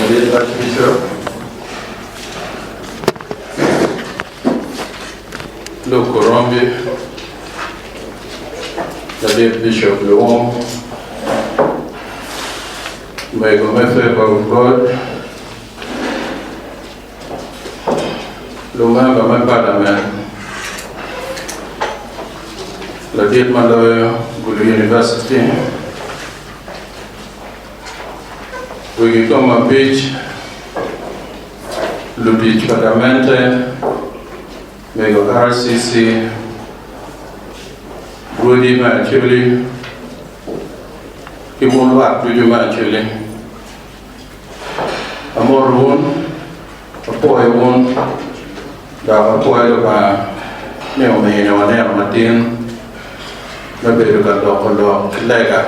Ladit lakica Luke Korombi, Ladit Bicop Luwum, Omego me Favour of God, Lumemba me Palamen, Ladit ma loyo Gulu University, Wek ikom abic, lutic pa gamente mego RCC, rwodi me Acholi, ki wun lwak ducu me Acholi, amoto wun. Apwoyo wun, dok apwoyo Lubanga ni omiyo waneno matin me bedo ka loko lok ki lega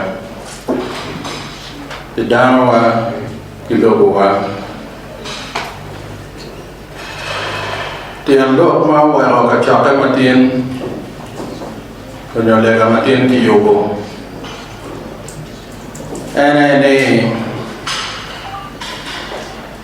pi danowa ki lobowa. Tyen lok ma oweko kacokke matin onyo lega matin kiyubo ene ni,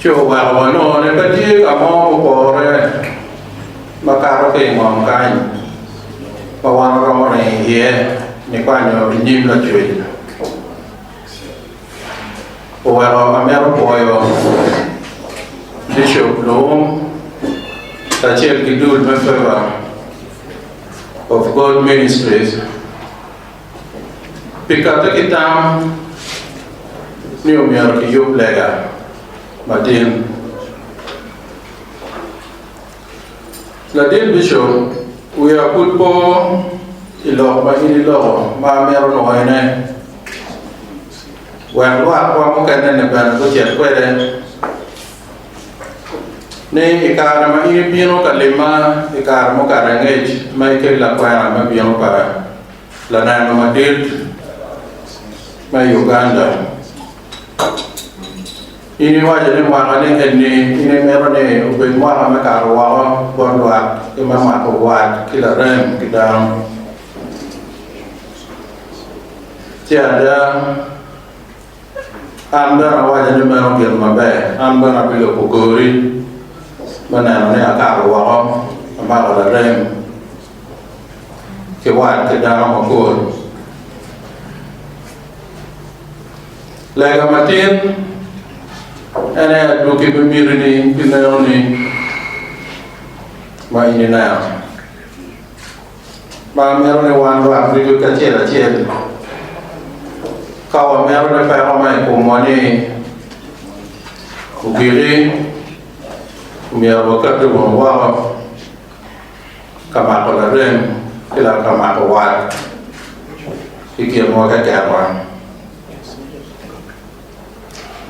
Ci oweko wanongo ni pe tye ka mo mupore makato ki i ngom kany ma wan waromo ringo iye nikwanyo i nyim Lacwec. Oweko amito pwoyo Bicop Luwum kacel ki dul me Favor of God Ministries, Pi katte ki tam ni omyero kiyub lega matin, Ladit Bishop, wiya pud po i lok ma in iloko ma amito nwoyone wek lwakwa mukene-ni bene gucit kwede. ni i kare ma in ibino ka limma i kare mukato angec ma ikel lakwena me bino pa Laneno Madit me Uganda, in iwaco ni mwakani eni in imito ni obed mwaka me kato woko bot lwak ki me mako wat ki larem ki dano. Ce ada. An bene awaco ni meno gin maber, an bene abilubo kori me neno ni akato woko amako larem ki wat ki dano mapol. Lega matin en aye adwogi me mitini ki lenoni ma in ineno. Ma mito ni wan rwak ducu kacel acel, ka wamedo ni peko ma i komwa ni ogiki, omyero wakati wunu woko ka mako larem ki lak ka mako wat i kinwa kekenwa.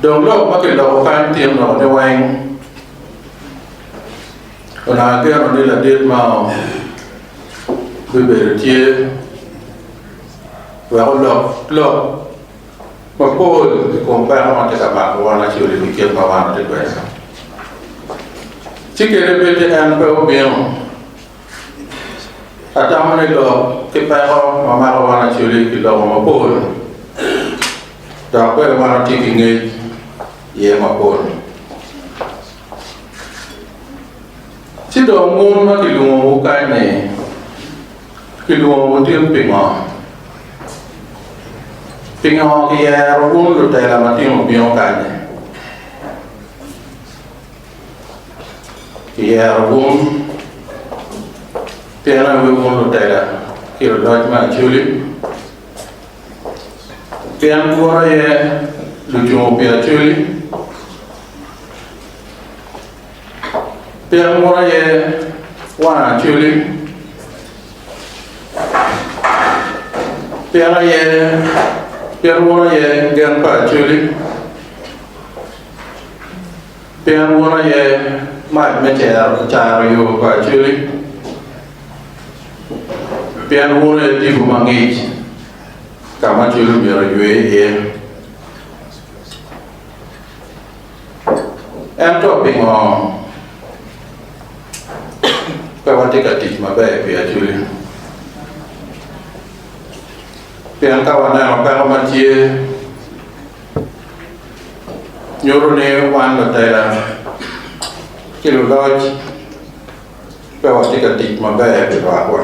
Dong lok ma kiloko kany tye lok ni weng. Onongo ageno ni ladit mao bibedo tye wek olok lok mapol i kom peko ma tye ka mako wan Acholi ki kit ma wan watye kwede-ni. Ci kene bedi en pe obino. Atamo ni lok ki peko ma mako wan Acholi kilobo mapol dok bene wan watye ki ngec iye mapol. Ci dong mon ma kilwongowu kany-ni, kilwongowu tin pingo? Pingo kiyero wun lutela matino bino kany-nyi? Kiyero wun pien awi wun lutela ki luloc me Acoli, pien twolo aye lucungu pi Acoli. Pien mot aye wang acoli, pien aye pien mot aye gen pa acoli, pien mot aye mac me cero caro yo pa acoli, pien mot aye tipo ma ngic ka ma acoli myero eywe iye. Ento pingo pe watye ka tic maber pi Acholi? Pien ka waneno peko ma tye, nyuto ni wan lutela ki luloc pe watye ka tic maber ki lwakwa.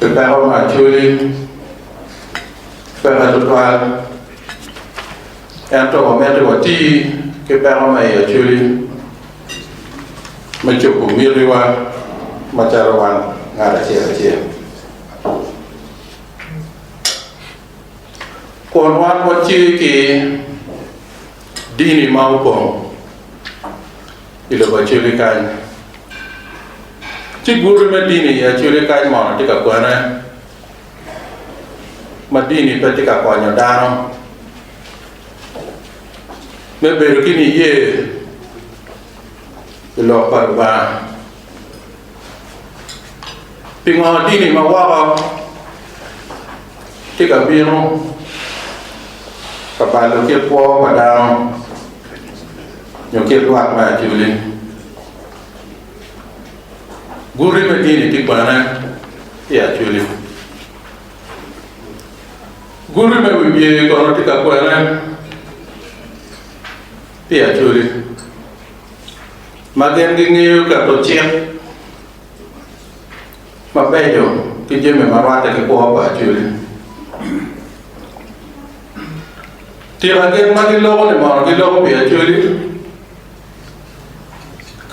Pi peko me acwiny, peke tutwal, ento wamito wati ki peko me i acwiny me cobo mitiwa macalo wan ngat acel acel. Kun wan watye ki dini ma opong i lobo Acoli kany, ci guti me dini i Acoli kany mono tye ka kwene ma dini pe tye ka konyo dano me bedo ki niye i lok pa Lubanga. Pingo dini ma woko tye ka bino ka balo kit kwo pa dano nyo kit lwak me acoli? Guti me dini tye bene i acoli. Guti me wi bye kono tye ka kwene i acoli. Ma gin gingeyo keto cik mabeco ki jami ma rwatte ki kwo pa Acholi. Tika gin ma giloko-ni mono giloko pi Acholi?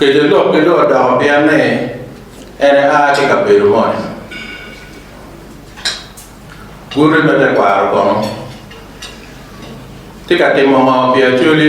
Kece lokgi dong odoko pien ni en ea ki i kabedo moni. Guti me tekwaro kono ti ka timo ngo pi Acholi?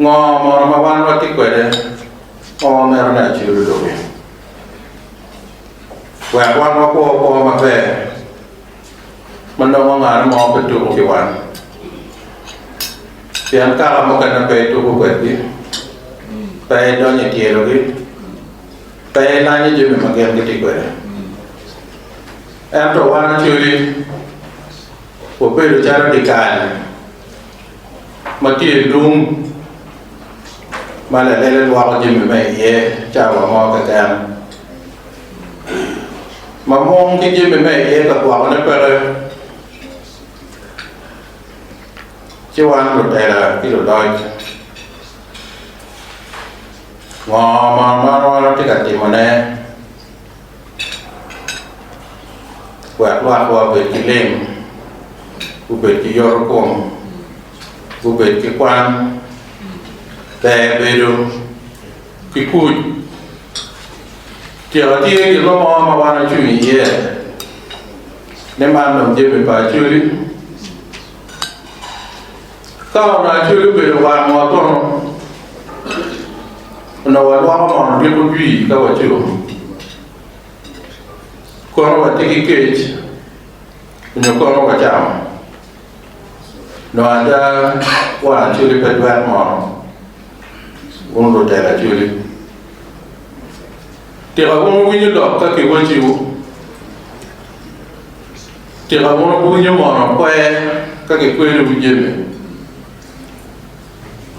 Ngo mono ma wan watye kwede ma wamito ni acel odoki wek wan wakwo kwo maber ma nongo ngane mo pe tuku ki wan? Pien kaka mukene pe ituku kwedgi, pe idonyo i tyelogi, pe ilanyo jami ma gin gitye kwede. Ento wan acoli wabedo calo dikal. ma tye i lung ma lelele lwoko jami me iye cawa mo keken. Ma mung ki jami me iye ka gwokone peke, ci wan lutela ki luloc ngo ma marwa tye ka timone? wek lwakwa obed ki lim, gubed ki yorokom, gubed ki kwan, ber bedo ki kuc. Tyeka tye gin mo ma wan ocung iye ni man dong jami pa acwali. Ka onongo Acoli obedo warwa kono onongo walwoko mono ryeko jwi ka waco, kono watye ki kec nyo kono wacamo. Nongo ada wang Acoli pe dwek mono, wun lutela Acoli. Tika wun wuwinyo lok ka kiwacciwu? Tika mon ok winyo mono akwe ka gikwedo ki jami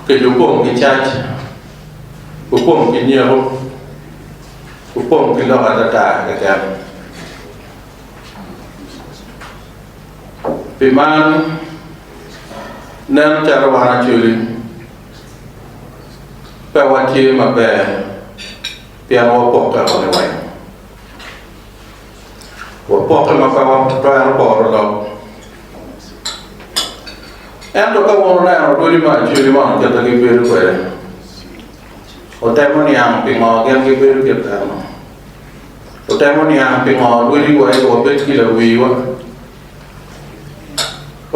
kadi opong ki cac, opong ki nyeko, opong ki lok atata keken? Pi man, nen calo wan Acholi pe watye maber pien wapokke woko liweng. Wapokke ma pe watwero boro lok. Ento ka wun wuneno odi me acwedi man kite gibedo kwede, wutemo niang pingo gin gibedo kit kare-nu? Wutemo niang pingo rwodiwa aye wabed ki lawiwa?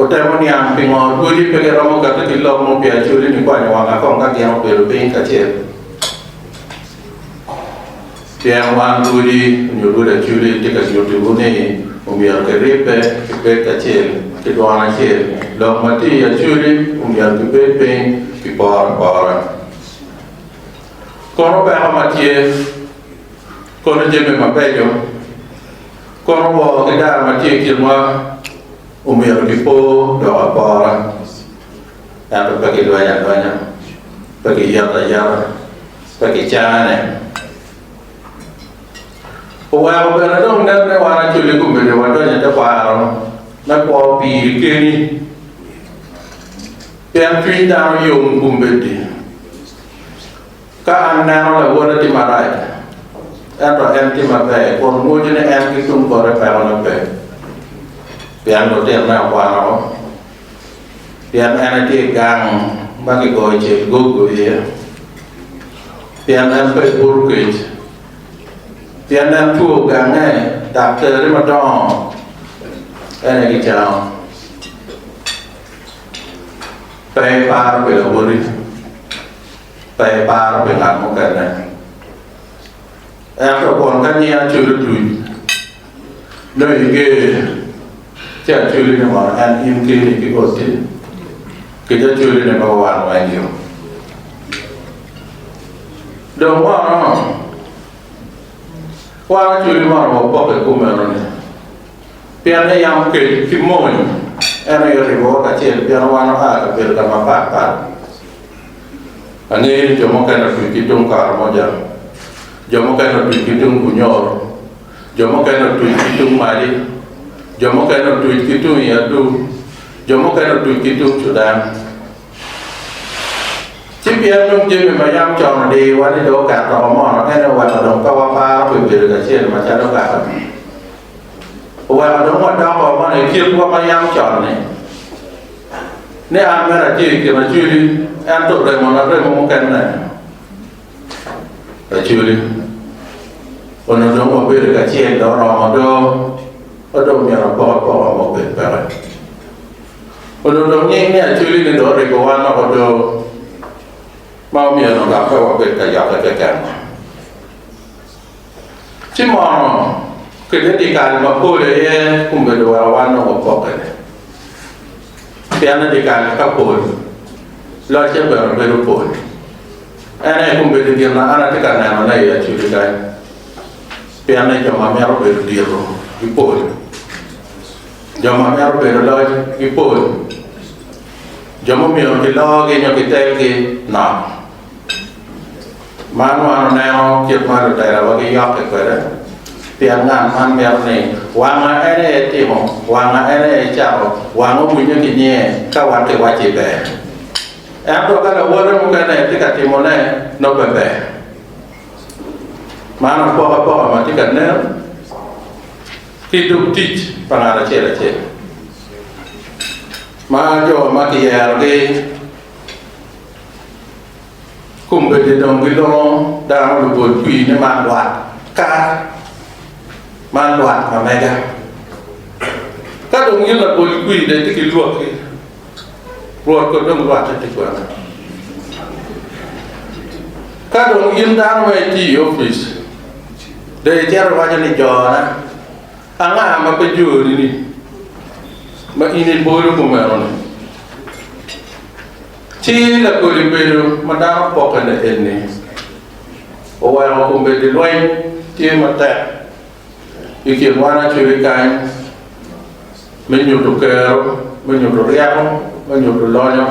Otemo niang pingo Rwodi pe giromo kati ki lok mo pi Acholi ni kwanyo wanga kong ka gin obedo piny kacel. Pien wan Rwodi nyo Rwod Acholi tye ka nyuti wu ni omyero ki ribbe ki bed kacel ki dwon acel. Lok ma tye i Acholi omyero ki bed piny ki poro apora. Kono peko ma tye. Kono jami mabeco kono woko ki dano ma tye i kinwa omyero gipo dok apora, ento pe gilwenyo alwenya, pe giyeto ayeta, pe gicane. Oweko bene dong nen ni wan acolle gubedo wadonyo i tekwaro me kwo piri keni, pien cwiny dano yom i kom bed-di. Ka an neno lawote tye marac, ento en tye maber, kun ngwuco ni en ki tung bote pekone pe, pien lutinone okwano, pien en etye i gang ma kigoyo cel gogo iye, pien en pe i bur kec, pien en two gange, dok terri madongo en aye gicango. Pe iparo pi lawoti. pe eparo pi ngat mukene. Ento kun ka nyinga cul otuc, nongo iger ci aculi ni mono en in keni ki Ostin kit aculi ni mogo wan weng yo. Dong mono wan aculi mono wapoko i kom enoni pien ni yam kec ki mony en aye oribowa kacel pien wan oa kabedo ka mapat pat. Angeyo ni jo mukene otwir ki tung Karamojang, jo mukene otwir ki tung Bunyoro, jo mukene otwir ki tung Madi, jo mukene otwir ki tung i Aduu, jo mukene otwir ki tung Cudan. Ci pien dong jami ma yam con odiyowa ni dong oket oko mono, ene oweko dong pe waparo pi bedo kacel macalo kare ni. Oweko dong wadoko mono i kitwa ma yam con-ni. ni an mere atye i kin acwili, ento remona remo mukene. Acwili onongo dong wabedo kacel dong oromo do, ma dong myero apok apoka ma obed peke. Onongo dong nying ni acwili-ni dong oriko wan oko do, ma omyero dong dok pe wabed ka yokke keken. Ci mono kwede pi kare mapol aye obedo wa wa nongo pokkene, pien i dye kare ka pol, locce bene bedo pol. En aye obedo gin ma an atye ka nenone i acuc-ci kany, pien ni jo ma mito bedo dito gipol, jo ma mito bedo loc gipol, jo ma omyero kilogi nyo kitelgi nok. Man wan oneno kit ma lutelawa giyokke kwede, pien ngat man mito ni wanga en aye timo, wanga en aye cako, wanga owinyo ki nyiye ka wan kiwacci ber. Ento ka lawote mukene tye ka timone, nongo pe ber. Man apokapoka ma tye ka nen ki dog tic pa ngat acel acel, ma jo ma kiyerogi. Kombeddi dong gilongo dano lupolcwiny ni man lwak kara, man lwak ma mega. Ka dong in lapolcwiny dong itye ki lwakki, Rwot kono dong rwatte tic wanga. Ka dong in dano ma itye i opic, dong icito iwaco ni jona, Anga ma pe jori-ni ma in ibolo kumeno-ni? Ci lakodi bedo ma dano pokkene eni oweko kombeddi lweny tye matek i kin wanacobi kany me nyuto kero, me nyuto ryeko, me nyuto lonyo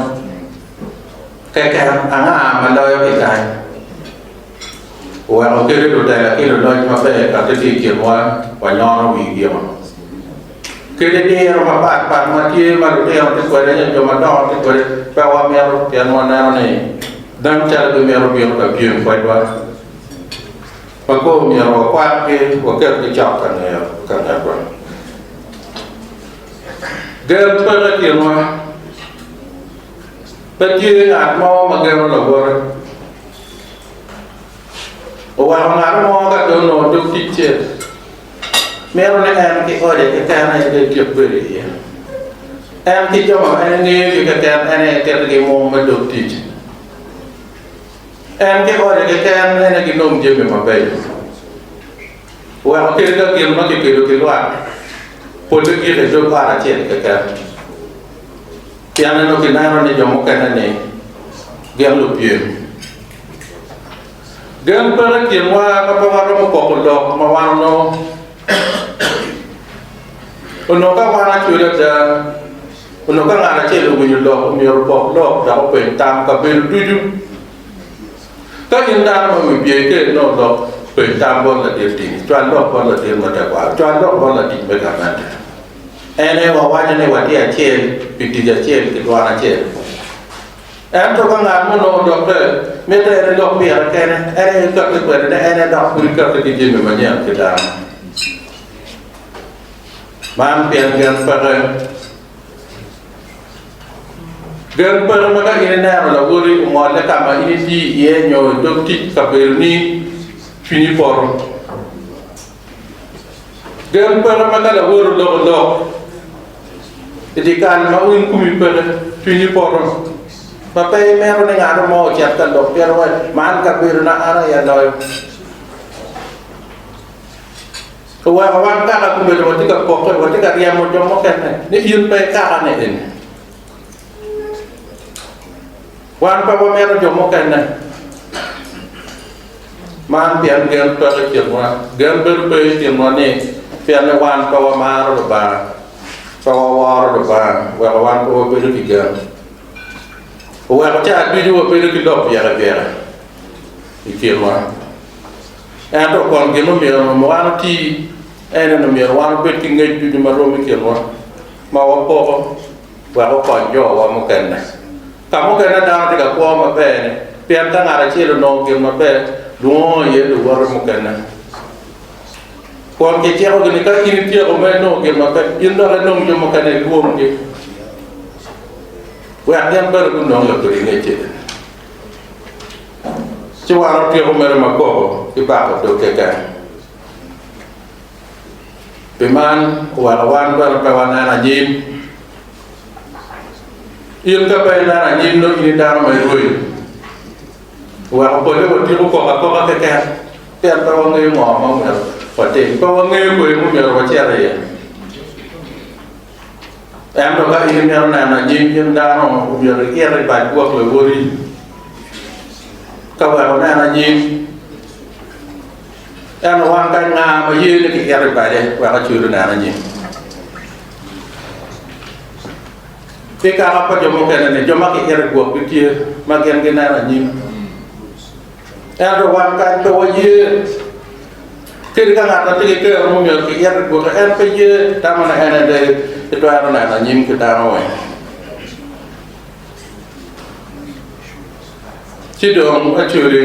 keken. Anga ma loyogi kany? oweko kite lutela ki luloc maber kati ki i kinwa wanyono wigio. Kite diro mapat pat ma tye ma lutino tye kwede nyo jo madongo tye kwede pe wamito pien waneno ni dano calo gimito bino ka pyem kwedwa ma kong omyero wakwakgi waketgi cok ka ngeyo ka ngetwa. Gen peke i kinwa, pe tye ngat mo ma geno lawote. Oweko ngat mo ka dong onongo dog ticce, mito ni en ki ode keken aye bed ki bedo iye. En ki jo ma en ngeyogi keken en aye ketigi i mung me dog tic. En ki ode keken en aye ginong jami mabeco. Oweko kit ka gin ma kipido ki lwak polle gik i dog ot acel keken. Pien ento kineno ni jo mukene-ni gin lupyem. Gen peto i kinwa ka pe waromo poko lok ma wan onongo. Onongo ka wan acwec ada, onongo ka ngat acel owinyo lok omyero opok lok dok openy tam kabedo ducu. Ka in dano ma wi bye iker inongo lok, peny tam bot ladit dini, cwal lok bot ladit ma tekwaro, cwal lok bot latic me gamente. En aye wawaco ni watye acel pi tic acel ki dwan acel. Ento ka ngat mo onongo odokke, mitte en elok pire kene, en aye ekakki kwede ni en edok pud ekakki ki jami manyen ki dano. Man pien gen peke. Gen peke ma ka in ineno lawoti ongolle ka ma in itiyo iye nyo i dog tic kabedoni cwinyi poto. Gem kwena ma ka lawote oloko lok i dye kal ma winy kumi peke, cwinyi poto ma pe imito ni ngat mo ocit ka lok pien iwaco, 'Man kabedona, an aye aloyo. Oweko wan kaka komedo watye ka pokke, watye ka ryemo jo mukene ni in pe ikakane eni. Wan pe wamito jo mukene. Man pien gen peko i kinwa. Gen bedo pe i kinwa ni pienni wan pe wamaro Lubanga, pe waworo Lubanga, oweko wan pe wabedo ki gen. Oweko cawa ducu wabedo ki lok byekabyeka i kinwa. Ento kun gin omyero wan oti ene ni omyero wan obed ki ngec ducu ma rom i kinwa, ma wapoko. wek okony jowa mukene. Ka mukene dano tye ka kwo maber-ni pien ka ngat acel onongo gin maber, lwongo iye luwote mukene kun kicikogi ni, 'Ka in ityeko ma inongo gin maber, in dok inong jo mukene ilwonggi wek gin bene gunong lok kodi i ngeceni. Ci wan watyeko mere ma koko ki bako dog keken. Pi man, oweko wan bene pe wanen anyim. In ka pe ineno anyim dong in i dano ma irwenyo. Oweko pole watiko koko akoka keken pien pe wangeyo ngo ma omyero watim. Pe wangeyo kweyo ma omyero wacit iye. Ento ka in imito neno anyim gin dano, omyero iit i bad gwok lawoti ka wek inen anyim. Ento wan ka nga ma ye ni kiket i bade wek ocwod oneno nying? Ki kaka pa jo mukene ni jo ma kiket i gwokgi tye ma gin gineno anyim, ento wan kany pe waye. Kadi ka ngat ma tye ki kero mo myero kiket i gwoke, en pe ye tamo ni en ede ki twero neno anyim ki dano weng. Ci dong acwodi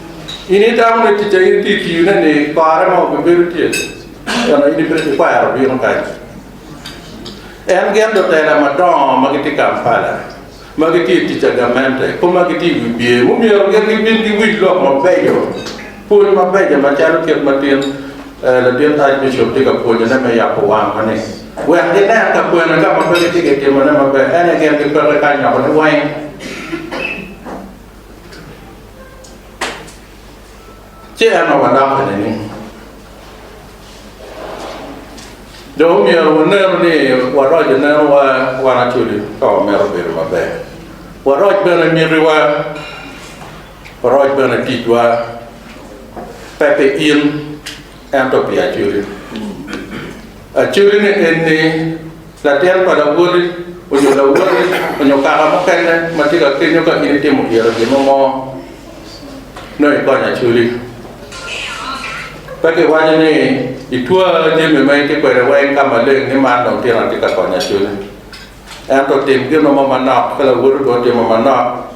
In itamo ni ticca in pi tiyone-ni kare mo bibedo tye, ento in ibino kikwero bino kany. En gen lutela madongo ma gitye Kampala, ma gitye i tic agamente, kop ma gitye i wi bye, mumyero gin gibin giwinj lok mabeco, pwony mabeco macalo kit ma tin latin Archbishop tye ka pwonyone me yabo wangwa ni, wek ginen ka kwene ka ma pe gitye kitimone maber, en aye gen gipeke kanyokone weng. Ci en ma wadoko ni ni dong omyero wanenu ni waroc nenowa wan acwali ka wamito bedo maber, waroc bene mitiwa, waroc bene ticwa pe pi in. ento pi acwele. Acwelene en ni, latin pa lawoti onyo lawoti onyo kaka mukene ma tye ka kenyo ka in itimo yero gin mo mo, nongo ikony acweli. Pe kiwaco ni itwa jami ma itye kwede weng ka maleng ni man dong tyen atye ka konyo acwele. Ento tim gin mo manok ka lawoti bene otimo manok.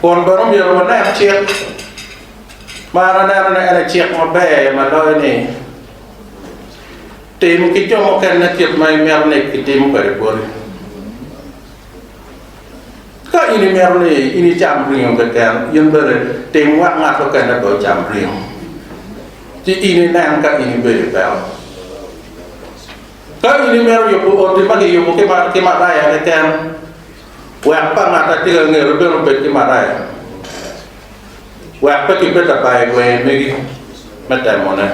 Kun bene omyero wanen cik ma an aneno ni en aye cik maber ma loyo ni, Tim ki jo mukene kit ma imito ni kitim kwede boti. Ka in imito ni in icam ringo keken, in bene tim wek ngat mukene bene ocam ringo, ci in inen ka in ibedo i peko. Ka in imito yubo oti ma kiyubo ki Maraya keken, Wek pa ngat atika angera bene obed ki maraya, wek pe kibed abayo i ngweye megi me temone.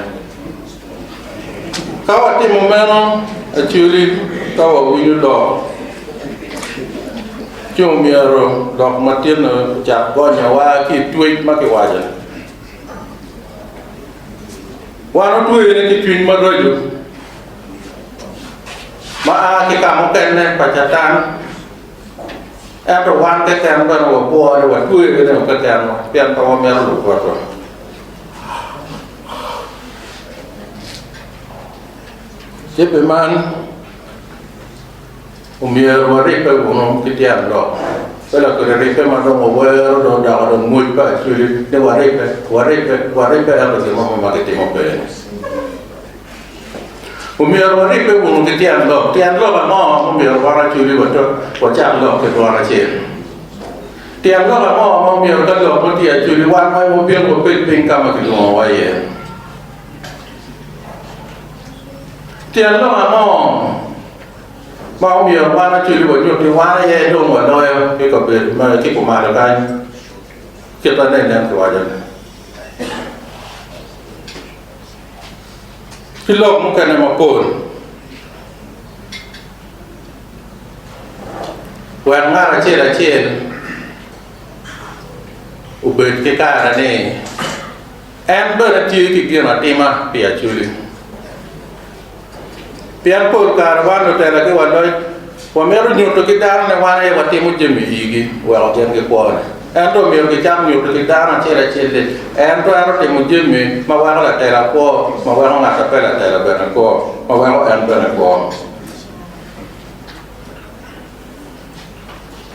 Ka watimo meno, actually ka wawinyo lok ci omyero lok matinni ocak gonyowa ki i twec ma kiwaco ni wan otweyone ki cwiny maraco. ma a ki ka mukene pa Catan, ento wan keken bene wabwor ni watweyo i remo kekenwa pien pe wamito lubo Rwotwa. Ci pi man, omyero waribbe wunu ki tyen lok, pe lakwede ribbe ma dong wawero dong odoko dong mwoc pa Acholi ni waribbe, waribbe, waribbe ento gin mo ma kitimo pe-ni. Omyero waribbe kun ki tyen lok. Tyen lok ango ma omyero wan acoli wacak lok ki twon acel? Tyen lok ango ma omyero ka lok mo tye acoli wan wai wapyel wabed piny ka ma kilwongowa iye? Tyen lok ango ma omyero wan acoli wanyut ni wan aye dong waloyo ki kabedo ki kumalo kany kit ma nen nen kiwacone? ki lok mukene mapol wek ngat acel acel obed ki kare ni en bene tye ki ginatima pi Acholi. Pien pol kare wan lutela ki waloc wamito nyuto ki dano ni wan aye watimo jami igi weko gin gikwone. Ento omyero gicak nyuto ki dano acel acel ni en twero timo jami ma weko latela kwo, ma weko ngat ma pe latela bene kwo, ma weko en bene kwo.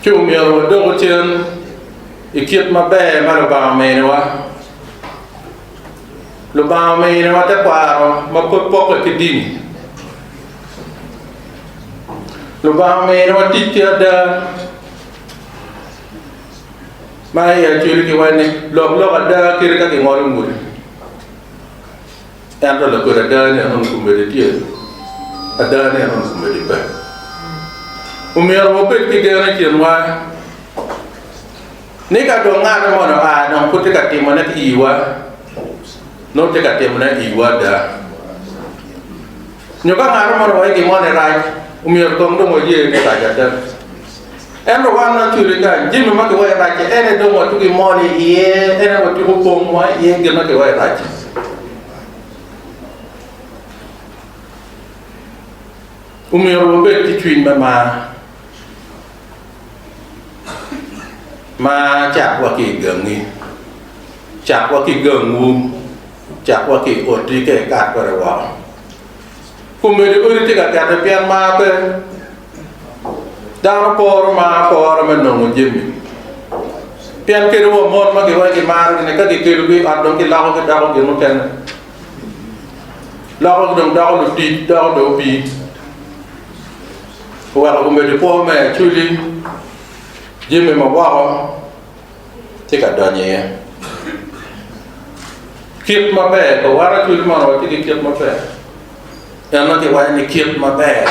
Ci omyero wadoku cen i kit maber ma Lubanga ominiwa. Lubanga ominiwa tekwaro ma pud pokke ki dini. Lubanga ominiwa tic ki ada ma i Acholi giwaco ni lok lok ada kit ka gingolo ngudi. Ento lakodi ada ni enoni kumedi tye, ada ni enoni kumedi pe. Omyero wabed ki gen i kinwa. Ni ka dong ngat moni oa dong pud tye ka timone ki iwa, nongo tye ka timone iwu ada. Nyo ka ngat moni owaco gin moni rac, omyero kong dong waye ni rac ada. Ento wan waculi kany, jami ma kiwaco rac-ci en aye dong watugo i moni iye, en aye watugo komwa iye gin ma kiwaco rac-ci. Omyero wabed ki cwiny me mar. ma cakwa ki i gangi, cakwa ki gangwu, cakwa ki i otti ka ikato kwede woko. Kombeddi odi tye ka kete pien mar pe. Dano poro mar apora me nongo jami. Pien kadi wa mon ma giwaco ni gimarogi-ni ka gikelogi i ot dong giloko gidoko gin mukene, lokogi dong doko lutic, doko dong opii. oweko omedo kwo me acwili, jami ma woko tye ka donyo iye. Kit maber, ka waro acwili man watye ki kit maber, en nongo kiwaco ni kit maber.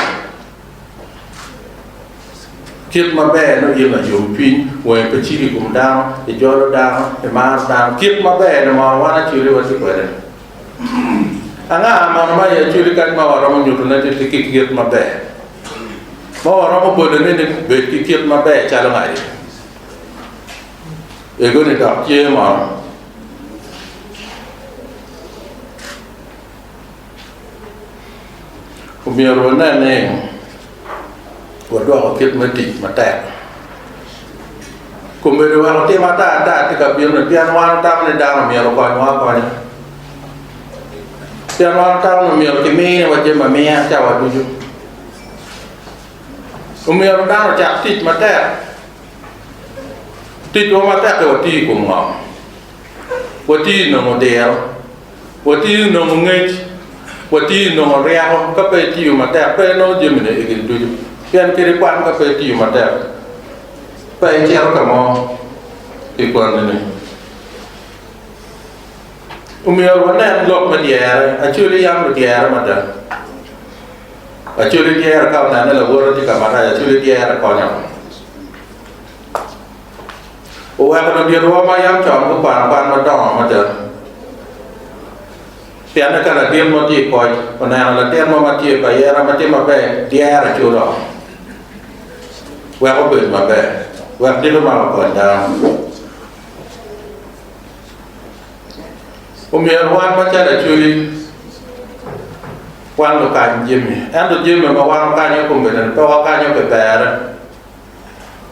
Kit maber nongo in layomcwiny, wangi pe ciko i kom dano, ijolo dano, imaro dano. Kit maber-ni mono wan acwili watye kwede-ni. Anga mono ma i Acholi kadi ma waromo nyutone ni tye ki kit maber, ma waromo bolone ni bed ki kit maber calo ngaye? Ego ni dok tye mono. Omyero wanen ni. wadwoko kit me tic matek. Komedo weko tim ata ata tye ka bino-ni pien wan watamo ni dano myero okonywa akonya. Pien wan watamo ni myero kiminiwa jami amiya cawa ducu. Omyero dano ocak tic matek. Ticwa matek-ki watiyo i kom ngo? Watiyo i nongo diro. Watiyo nongo ngec, watiyo nongo ryeko ka pe itiyo matek pe inongo jamine i gin ducu, pien kadi kwan ka pe itiyo matek pe icito ka mo pi kwannini. Omyero wanen lok me dyere, Acholi yam ludyere mada. Acholi dyere ka onene lawote tye ka marac, Acholi dyere konyo. oweko luditwa ma yam con gukwano kwan madongo mada. Pienne ka ladit mo tye i koc oneno latin mo ma tye pa yera ma tye maber, dyere ki oloko wek obed maber, wek dit omak okony dano. Omyero wan macalo Acoli wan lukany jami, ento jami ma wan wakanyo i kombedini pe wakanyo pi berre.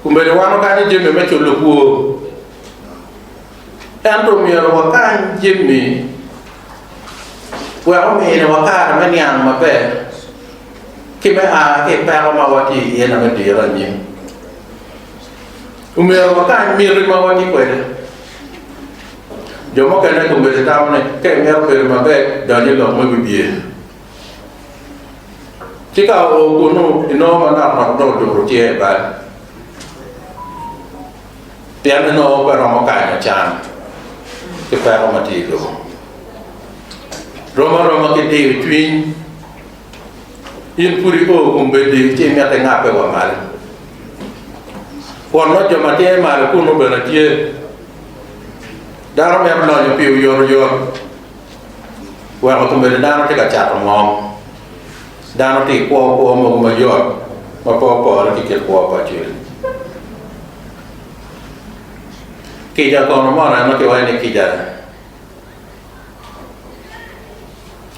Omyero wan okanyi jami me culo kwor, ento omyero wakany jami wek ominiwa kare me niang maber ki me a ki i peko ma watye iye-ni me dire anyim. Omyero wakany miti ma watye kwede. Jo mukene gubedo gitamo ni ka imito bedo maber, dony i lok me wibye. Ci ka oo kunnu, inongo manok nok dong oturo tye i bal, pien inongo pe romo kanyo can ki peko ma tye i lobo. Rom aroma ki diyo cwiny, in pud i oo kombeddi ci imito ingabbe wa malo. Kwot ma jo ma tye malo kunnu bene tye, dano mito lonyo pi oyotoyot. Weko komedo dano tye ka cato ngom. Dano tye kwo kwo mogo mayot ma pe opore ki kit kwo pa cwiny. Kica kono mono en ma kiwaco ni kica-ni?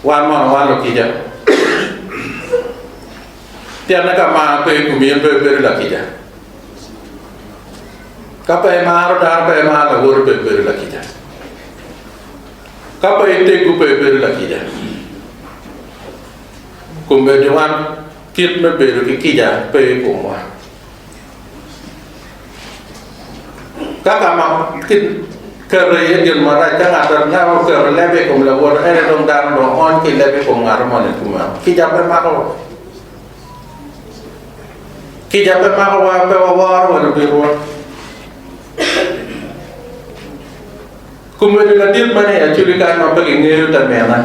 Wan mono wan lukica? Pienne ka mar pe i komi en pe ibedo lakica. Ka pe imaro dano pe imaro lawoti pe ibedo lakica. Ka pe itego pe ibedo lakica. Kombeddi wan kit me bedo ki kica pe i komwa. Ka ka ma keto iye gin marac ka ngat anaka oketo lebe i kom lawote ene dong dano dong ony ki lebe i kom ngat moni kumeno. Kica pe mako wa. Kica pe mako wa pe waworo wa lubedowa. Kumene ladit man aye acugi kany ma pe kingeyo te mine.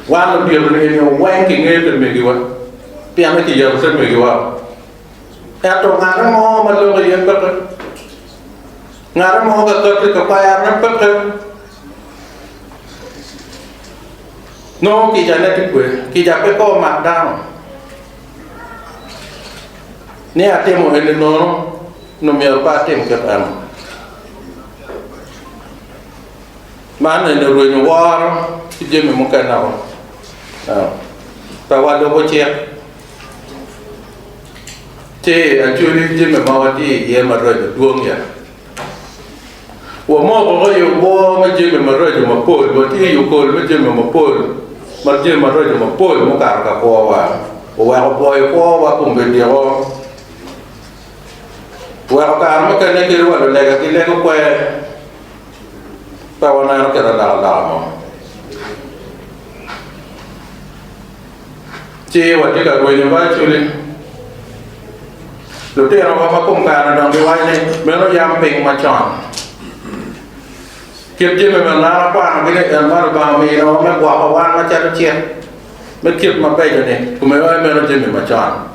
Wan ludito nio weng kingeyo te megiwa pien ni kiyabo te megiwa. Ento ngate mo ma lok iye peke, ngate mo ka kati i kaperone peke, nongo kicane tye kweyo. Kica pe kor mak dano. ni atimo eni nono, nyo myero pe atim kit meno. Man eni orwenyo woro ki jami mukene o. Pe walubo cik, ci acweli jami ma watye iye ma rwenyo dwong ya. Wamoko i obwor me jami maraco mapol, watye i okol me jami mapol, ma jami maraco mapol mukato ka kwowa oweko opwoyo kwowa kun bidyeko, oweko kare mukene kit wa lulega ki lego kwe, pe wameno kit alokaloka mo. ci watye ka rwenyo virtually. Lutinowa ma kom kare odongo giwaco ni meno yam piny macon. Kit jami ma an akwanogi ni en man Lubanga ominiwa me gwoko wan macalo cik me kit mabeco-ni, kome aye meno jami macon.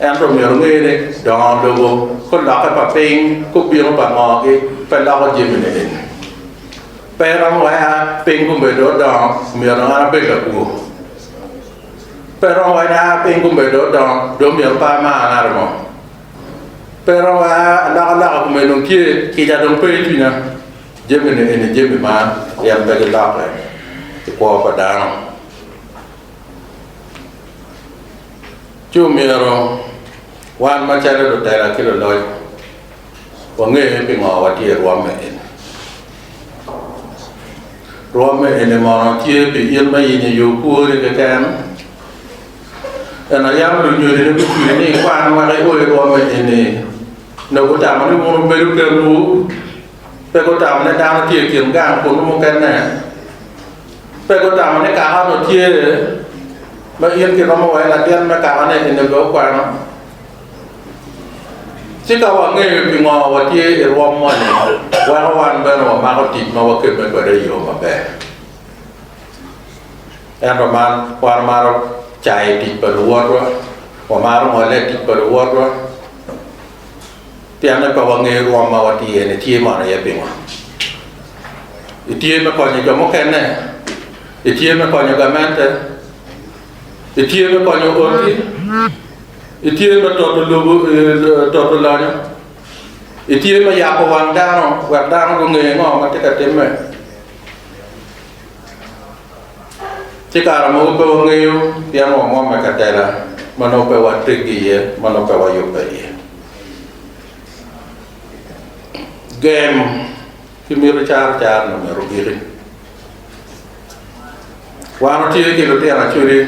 Ento myero wunge ni dongo lobo ki lokke pa piny ki obino pa ngogi pe loko jami-ni. Pe romo wena piny gubedo odongo myero an abed lakwor, pe romo wena piny gubedo odongo dong myero par ma an arimo, pe romo wena alokaloka kome dong tye, kica dong pe i cwinya. Jami-ni eni jami ma gin pe gilokke i kwo pa dano, ci omyero wan macalo lutela ki luloc Wange pingo watye i rwom me eni. Rwom me eni mono tye pi in ma in i yo kwori keken? Ena yam lunyodi ni gucwiny ni ikwan wek i o i rwom me eni, nyo gutamo ni wun wubedo kenwu? Pe gutamo ni dano tye i kin gang kunnu mukene? Pe gutamo ni kaka onongo tye, ma in kiromo wa i latin me kaka ne eni bene okwano? Ci ka wangeyo pingo watye i rwom moni, weko wan bene wamako tic ma wakemme kwede i yo maber. Ento man wan wamaro cayo tic pa luwotwa, wamaro ngole i tic pa luwotwa, pien ni pe wangeyo rwom ma watye iye-ni tye mono iye pingo. Itye me konyo jo mukene? Itye me konyo gamente? Itye me konyo oti? Itye me toto lobo, toto lanya? Itye me yako wang dano wek dano gunge ngo ma tye ka timme? Ci kare mogo pe wangeyo pien wamwomme katela ma nongo pe wateggi iye, ma nongo pe wayubbe iye. Gem. Ki miti caro caro ni omyero ogiki. Wan watye ki lutino acwidi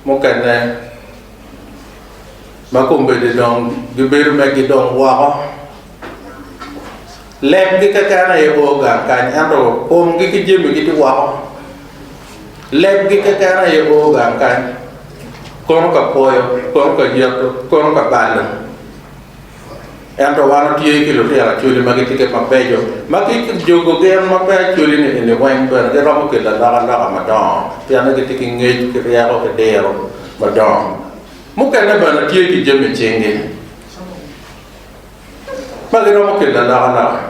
mukene ma kombeddi dong gibedo me gidong woko. Lemgi keken aye o gang kany ento komgi ki jamigi tye woko. Lemgi keken aye o gang kany, kono ka kwoyo, kono ka yeto, kono ka balo. Ento wan watye ki lutino acholi ma gitye kit mabeco ma ki i jogo gen ma pe acholi niini weng bene giromo kelo alokaloka madongo pien ni gitye ki ngec ki ryeko ki diro madongo. Mukene bene tye ki jami i cingi ma giromo kelo alokaloka.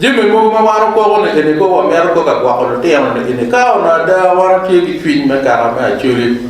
Jami mogo ma wan wapoko niini kong wamito kong ka gwoko lutino niini ka onongo ada wan watye ki cwiny me kaka me acholi.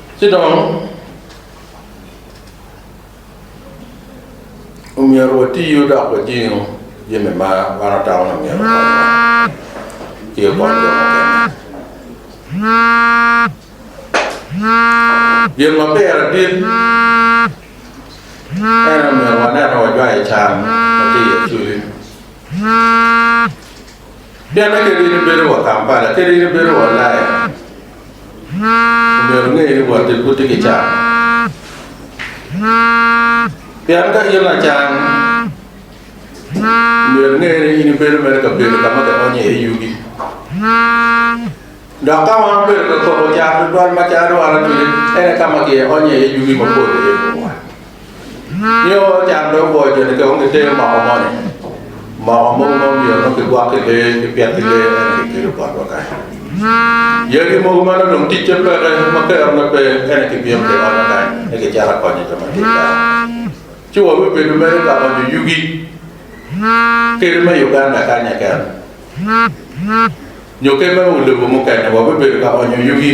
Ci dong, omyero watiyu dok wajingu jami ma wan otamo ni myero okonywa ki okony jo mukene. Gin ma pire dit en omyero wanen ni wajwayo can ma tye i Acholi. Pienni kadi in ibedo wa Kampala, kadi in ibedo wa Ulaya, Obedo angeyo ni wot i buti ki can, pien ka in lacan, myero inge ni in ibedo mere i kabedo ka ma kionyo iye yugi. Dok ka ma wabedo ka kobo can tutwal macalo dwaro cwiny, en aye ka ma kionyo iye yugi mapol iye i komwa. Nio wai can pe ogoyo joni ki ongi te moko moni. Moko mogo ma omiyo onongo kigwok ki lee ki pyet ki lee ene ki kelo botwa kany. Yagi mogo ma nonong ticce peke ma kerone pe ene ki bino ki onyo kany ni ki cito akonyo jo ma tic dano. Ci wa wi bedo mere ka onyo yugi kadi ma i Uganda kanya keken nyo keme o lobo mukene wa wi bedo ka onyo yugi.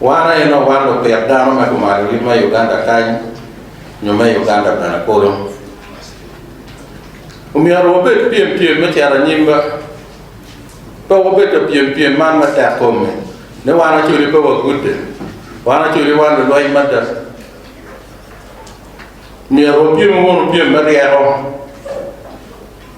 Wan aye ma wan lupit dano ma gumaro yub me Uganda kany nyo me Uganda bene kulu. Omyero wabed pyem pyem me cito anyim ba. Pe wabedo pyem pyem man me tek kome ni wan acoli pe wagudde, wan acoli wan lulweny mada. Myero wapyem wunu pyem me ryeko.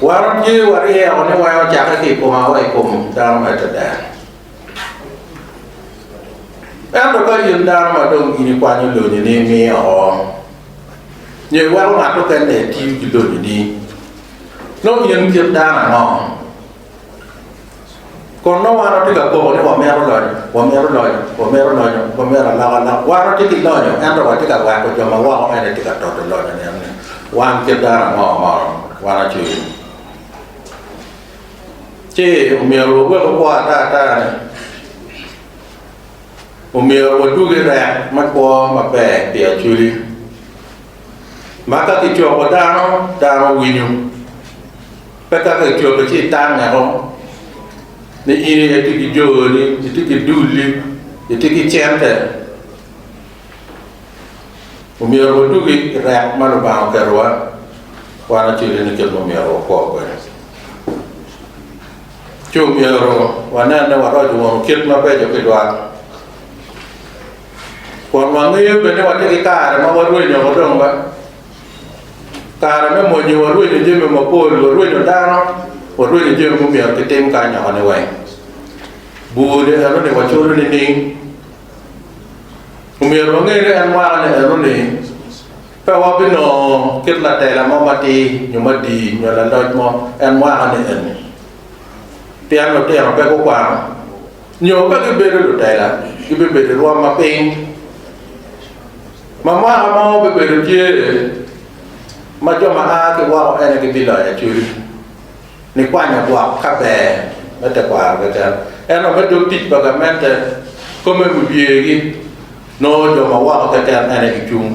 Wan watye waryeko ni weko ocakke ki i koma wa i kom dano ma Icrael. Ento ka in dano ma dong in ikwanyo lonyoni imiyo oko, nyo iweko ngat mukene etiyo ki lonyoni, nongo in kit dano ango? Kun nongo wan watye ka koko ni wamito lonyo, wamito lonyo, wamito lonyo, wamito alokaloka. Wan watye ki lonyo, ento watye ka weko jo ma woko eni tye ka toto lonyo nino ni wan kit dano ango ma wan acwiny. Ci omyero wawek okwo ata ata ni omyero wadug i rek me kwo maber pi acwili. Ma ka kicoko dano, dano winyo. Pe ka ki cobo ci itang eko ni in aye itye ki joni, itye ki duli, itye ki cente. Omyero waduki i rek ma Lubanga oketowa wan acel-li ni kit ma omyero wakwo kwede. Ci omyero wanen ni waroco wunu kit mabeco ki dwal. Kun wangeyo bene ni watye ki kare ma warwenyo woko dong ba. Kare me mwonyo warwenyo jami mapol, warwenyo dano, warwenyo jami mumyero ki tim ka anyoko ni weng. Bur ni eno ni wacodo ni ning. Omyero wange ni en mwaka ni eno ni pe wabinongo kit latela mo matir nyo madii nyo laloc mo en mwaka ni eni. Pien lutino pe gukwano nyo pe gibedo lutela, gibibedo irwom mapiny. Ma mwaka mo bibedo tye ma jo ma a ki woko ene gibiloyo acoli nikwanyo gwok ka ber me tekwaro keken, ento me dog tic pa gamente kome wibyegi nongo jo ma woko keken ene gicung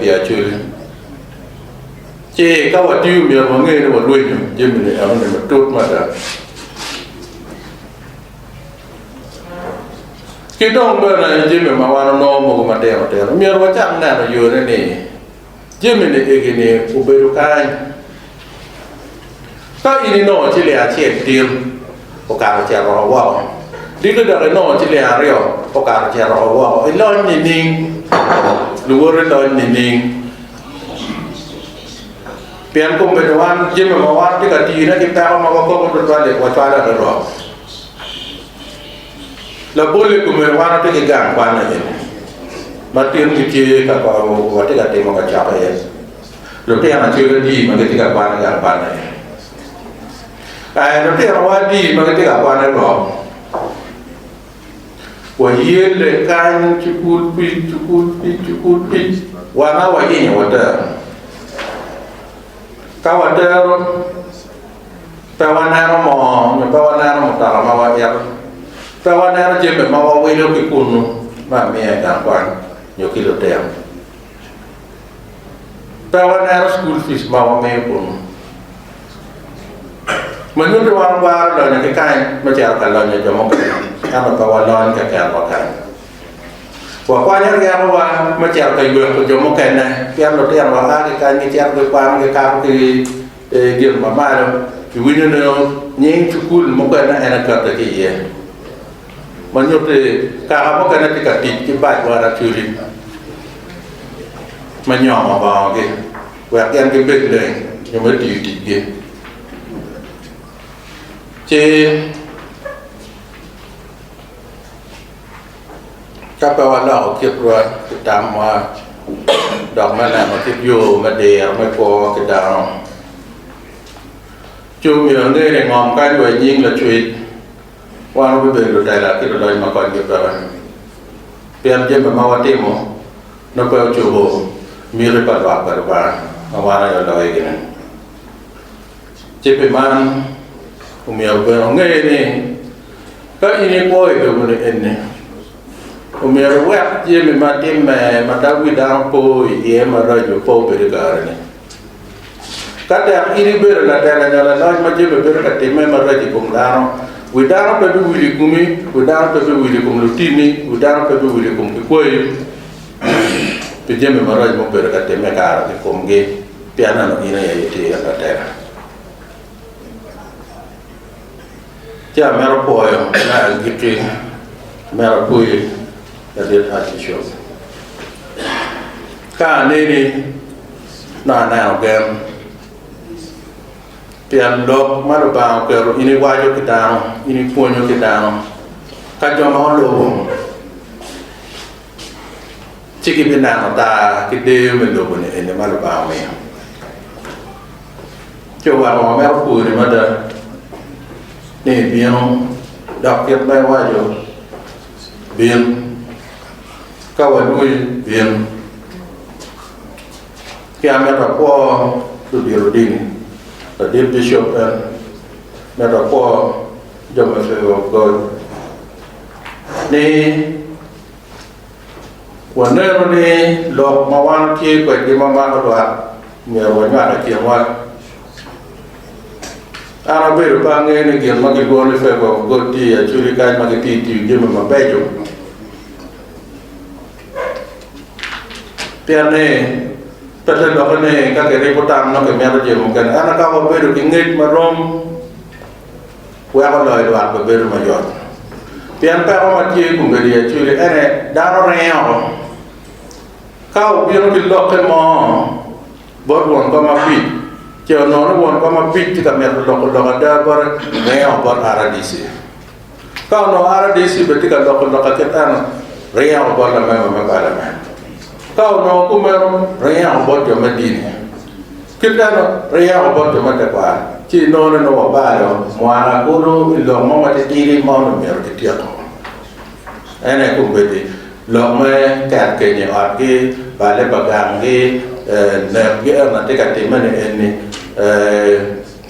pi acoli. Ci ka watiyo myero wange ni walwenyo jami ni enoni matut mada. Ki dong bene jami ma wan onongo mogo matino tino, myero wacak neno yone ni jami-ni egi-ni obedo kany. Ka in inongo ciling acel tin, okato ocito oko woko, diki dok inongo ciling aryo, okato ocito oko woko, ilony nining? Luwoti lony nining? Pien kombeddi wan jami ma wan watye ka tiyone ki peko ma wakobo tutwal-li, wacwalo adada. Labol i kome wan watye ki gang kwan aye ma tin kitye ka kor oo watye ka timo ka cok aye lutino acel adi ma gitye ka kwan i gang kwan aye ee lutinowa adi ma gitye ka kwan i rok wayelle kany cukul pic cukul pic cukul pic wan aye wayinyo watero ka watero Pe waneno mo nyo pe waneno mutoka ma waito. Pe waneno jami ma wawilo ki kunnu me amiya i gang kwan nyo ki lutino. Pe waneno cukul pic ma wamiyo kunnu. Ma nyutti wan wagwaro lonyo ki kany me cito ka lonyo jo mukene, ento pe walony kekenwa kany. Wakwanyo ryekowa me cito ka yweko jo mukene, pien lutinowa a ki kany gicito gikwano gikato ki I gin ma malo, kiwinyo ni nying cukul mukene en acatte ki iye, ma nyuto ni kaka mukene tye ka tic ki bac wa racodi me nyomo bongogi wek gen gibed leng nyo me tiyo ticgi. Ci. Ka pe waloko kitwa ki tamwa dok me neno kit yo me diro me kwo ki dano, ci omyero ange ni ngom kadi wa i nying Lacwec, wan wabibedo lutela ki luloc ma konygi peke, pien jami ma watimo nongo pe ocobo miti pa lwak pa Lubanga ma wan aye waloyogi-ni. Cibbe man omyero bene onge ni, ka in ikwo i loboni eni, omyero iwek jami ma timme ma dako ki dano po iye maraco pe obed i kare-ni. Ka tek in ibedo latela nyo laloc ma jami bedo ka timme maraco i kom dano, wi dano pe biwil i komi, wi dano pe biwil i kom lutinni, wi dano pe biwil i kom kikwayi pi jami maraco ma obedo ka timme i kare-ni i komgi. Pi aneno in aye itira ka tera, ci amito pwoyo me agikki me apwoyi ladit Archishop. Ka aneni nongo aneno gen, pien lok ma Lubanga oketo in iwaco ki dano, in ipwonyo ki dano ka jo ma olubo. Ci gibineno taa ki deyo me lobo-ni eni ma Lubanga omiyo, ci oweko wa mere opwony mada, ni ebino dok kit ma iwaco, Bin, ka walwonyi, bin, ci an mito akwo ludito odini, ladit bicop en, mito akwo jo me Pego Gol. ni wanenu ni lok ma wan watye kwedgi ma mako lwak myero wanywak i kinwa. An abedo pe angeyo ni gin ma gilwongo ni Favour of God tye i Acholi kany ma gitye tiyo jami mabeco, pien ni pe te lokke ni ka kiribo tam nongo kimito jami mukene. Ento ka wabedo ki ngec marom, Weko loyo lwak bene bedo mayot. Pien peko ma tye i kombeddi acwili ene dano ringe oko. Ka obino ki lokke mo bot won kom apic, ce onongo ni won kom apic tye ka mito loko lok ada bote, ringe oko bot RDC. Ka onongo RDC bene tye ka loko lok akit eno, ringe oko bot lamemba me palament. Ka onongo kumeno, ringe oko bot jo me dini. Kit dano pe yako bot jo me tekwaro, ci inonone nongo wabalo mwaka kulu i lok mo matitidi ma onongo myero kityeko. En aye kombeddi lok me ket keny i otgi, balle pa ganggi, nekgi ento atye ka timme ni enni,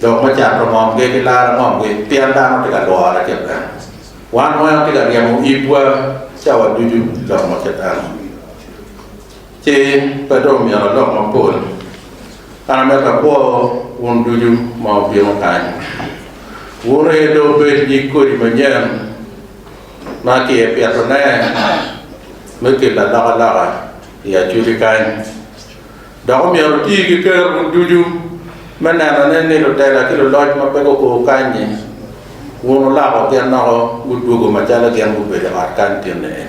lok me cato ngomgi ki laro ngomgi pien dano tye ka lwore kit meno. Wan weng watye ka ryemo ibwa cawa ducu i lok ma kit meno. Ci pe dong myero alok mapol, an amito akwo wun ducu ma wubino kany. Wun aye dong wubed nyig kodi manyen ma kipitone me kelo alokaloka i acugi kany, dok omyero wuti ki kerowu ducu me nenone ni lutela ki luloc ma pe gukur kany-nyi, wun wulako gin woko gudwogo macalo gin gubedo i ot kan tinne-ni.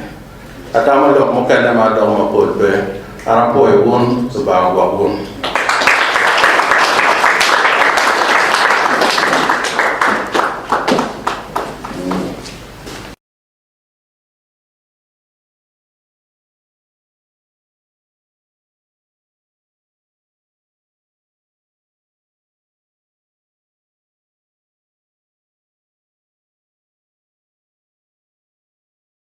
Ata ma lok mukene ma adoko mapol pe, an apwoyo wun, Lubanga ogwok wun.